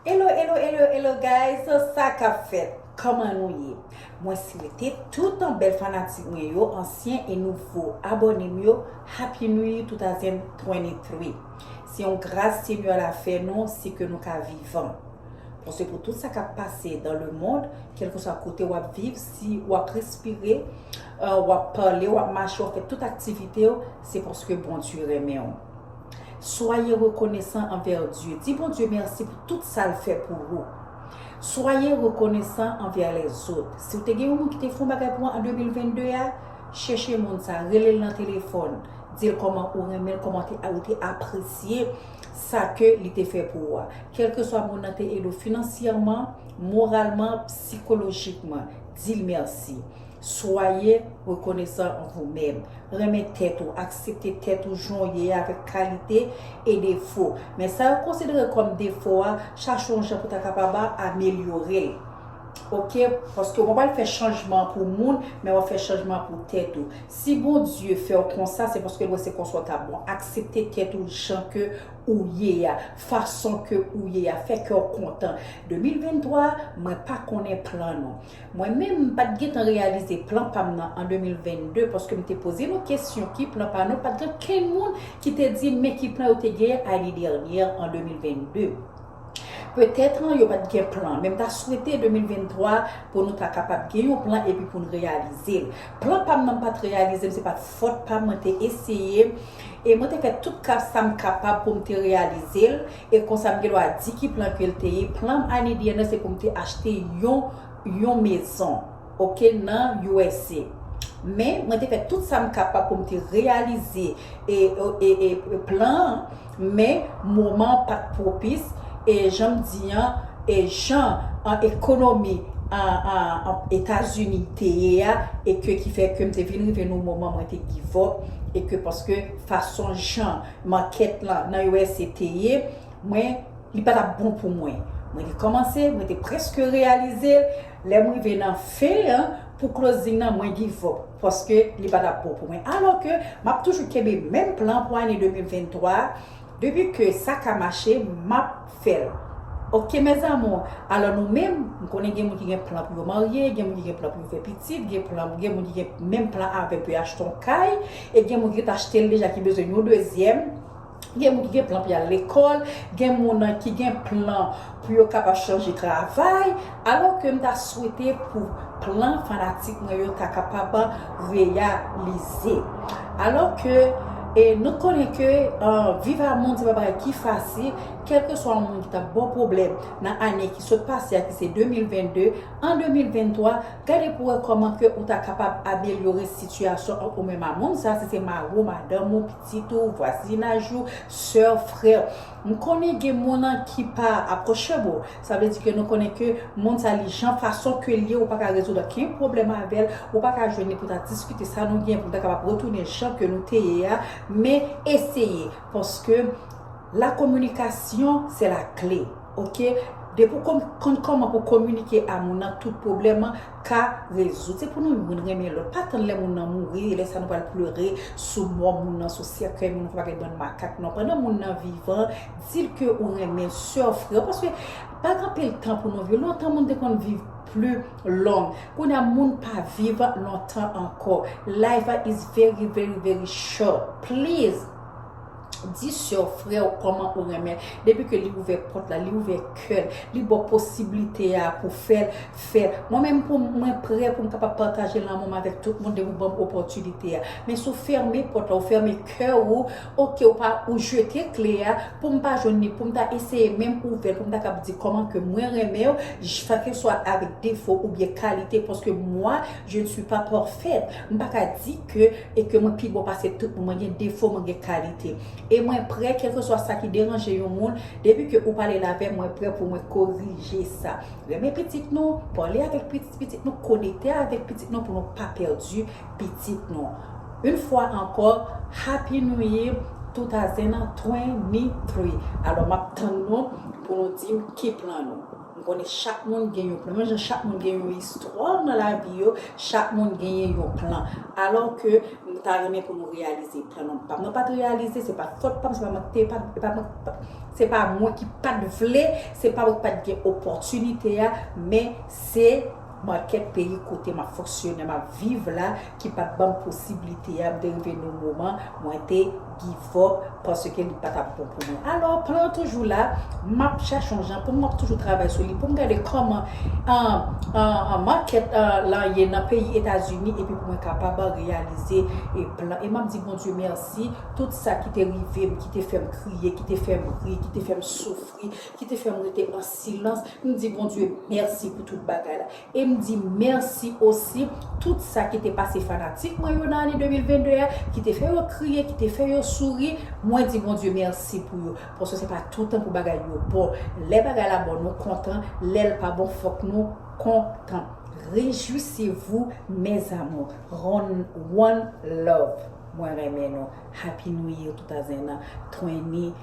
Hello hello hello hello guys so sa kap fèt Koman nou ye Mwen swete toutan bèl fanatik mwen yo ansyen e nouvo abòne m yo Happy New Year 2023 Se yon gras Senyè la fè nou se ke nou ka vivan Bon se pou tout sa kap pase dan le mond kelkeswa kote wap viv si wap respire wap pale wap mache wap fè tout aktivite w se paske Bondye renmen w. Soyez reconnaissant envers Dieu. Di Bondye mèsi pou tout sa l fè pou ou. Soyez reconnaissant envers les autres. Si w te gen yon moun ki te fè yon bagay pou ou an 2022 a, chèche moun sa, rele l nan telefòn, di l kòman ou renmen l, kòman ou te apresye sa ke li te fè pou ou a. Kèlkeswa moun nan te ede w finansyèman, moralman, psikolojikman, di l mèsi. Soyez reconnaissant en vous meme. Renmen tèt ou, aksepte tèt ou jan w ye a avèk kalite e defo. Men sa yo konsidere kòm defo a, chache yon jan pou ta kapab amelyore l. Ok, paske ou pa pral fè chanjman an pou moun, men w ap fè chanjman an pou tèt ou. Si Bondye fè w konsa, se paske l wè se konsa w ta bon. Aksepte tèt ou jan ke ou ye a, fason ke ou ye a. Fè kè w kontan. 2023 a, mwen pa konnen plan nou. Mwen menm m pat gentan reyalize plan pam nan an 2022 paske m te poze nou kesyon ki plan pa nou pat gen kenn moun ki te dim men ki plan yo te genyen ane dènyè an 2022 petèt yo pat gen plan men m ta swete 2023 pou nou ta kapab gen yon plan epi pou n reyalize l plan pam nan m pat reyalize l se pat fòt pam mwen te eseye e mwen te fè tout ka sam kapab pou m te reyalize l E konsa m gendwa di ki plan ke l te ye, plan m ane dèyè nan se pou m te achte yon yon mezon ok nan usa. Men mwen te fè tout sa m kapab pou m te reyalize e e plan an men moman an pa t pwopis e jan m di an e jan an ekonomi a a etazini te ye a e ke ki fè ke m te vin rive nan yon moman mwen te givòp e ke paske fason jan Market lan nan usa te ye mwen li pa tap bon pou mwen mwen te komanse mwen te preske reyalize l lèm rive nan fen an pou closing nan mwen give up paske li pa tap bon pou mwen alò ke map toujou kenbe menm plan pou ane 2023 depi ke sa ka mache map fèl ok mes amours alò nou menm m konnen gen moun ki gen plan pou yo marye gen moun ki gen plan pou yo fè pitit gen plan gen moun ki gen menm plan avèm pou yo achte yon kay e gen moun ki ret achtel deja ki bezwen yon dezyèm gen moun ki gen plan pou yal lekòl gen moun ki gen plan pou yo kapab chanje travay Alò ke m ta swete pou plan fanatik mwen yo ta kapab reyalize. Alò ke nou konnen ke viv a moun se pa bagay ki fasil, kèlkeswa yon moun ki ta ba w pwoblèm nan ane ki sot pase a ki se 2022, an 2023, gade pou wè kòman ke ou ta kapab amelyore sitiyasyon ant ou menm a moun sa, si se mari w, madanm ou, pitit ou, vwazinaj ou, sè w, frè w. M konnen gen moun ki pa apwochab ou, Sa vle di ke nou konnen ke mond sa li jan fason ke li ye, ou pa ka rezoud okenn pwoblèm avè l, ou pa ka jwenn li pou ta diskite sa nou gen pou nou ta kapab retounen jan ke nou te ye a, men eseye paske la kominikasyon se la kle ok, depi w konn kòman pou kominike a moun nan tout pwoblèm an ka rezoud, se pou nou youn renmen lòt, pa tann lè moun nan mouri lè sa nou pral plere sou mò moun nan, sou sèkèy moun nan, fò pa gen bann makak non, pandan moun nan vivan Dil ke ou renmen soeur freo paske pa gen anpil tan pou nou viv lontan moun te konn viv pli long kounya moun pa viv lontan ankò life is very very very short please di soeur freo koman ou renmen depi ke li ouvè pot la li ouvè kèl li baw posiblite a pou fèl fèl mwen menm pou mwen prè poum kapab pataje lanmoum avèk tout moun depi ou banm opòtinite a men si ou fèmen pot la ou fèmen kè ou Ok ou pa ou jete kle a poum pa jwenn li poum ta eseye menm ouvèl poum ta kab di kòman ke mwen renmenw jkeswa avèk defo oubyen kalite paske mwa je ne suis pas parfaite mpa ka di ke e ke mwen pi bon pase tout moun mwen gen defo mwen gen kalite e mwen prè kèlkeswa sa ki deranje yon moun depi ke ou pale lavèm mwen prè pou mwen korije sa renmen pitit nou pale avèk pitit nou konekte avèk pitit nou pou nou pa pèdi pitit nou yn fwa ankò happy new year 2023 alò map tann nou pou nou dim ki plan nou m konnen chak moun gen yon plan menm jan chak moun gen yon istwa nan lavi yo chak moun genyen yon plan alò ke m ta renmen pou nou reyalize plan nou pam nan pat reyalize se pat fòt pam se pa mank te pa se pa mwen ki pat vle se pa mwen ki pat gen opòtinite a men se Manke peyi kote map fonksyone map viv la ki pat banm posiblite a m te rive nou moman mwen te give up paske li patap bon pou mwen alò plan an toujou la map chache yon jan poum map toujou travay sou li poum gade kòman an market lan ye nan peyi etazini epi pou mwen kapab reyalize plan e map di Bondye mèsi tout sa ki te rivem ki te fèm kriye ki te fèm ri ki te fèm soufri ki te fèm rete silans, m di Bondye mèsi pou tout bagay la. E m di mèsi osi tout sa ki te pase fanatik mwen yo nan ane 2022 a, ki te fè yo kriye, ki te fè yo souri, mwen di Bondye mèsi pou yo. Paske se pa toutan pou bagay yo bon. Lè bagay la bon nou kontan, lè l pa bon fòk nou kontan. Rejwisez-vous mes amours. One love. Mwen renmen nou. Happy New Year tout a zen an. Twenty.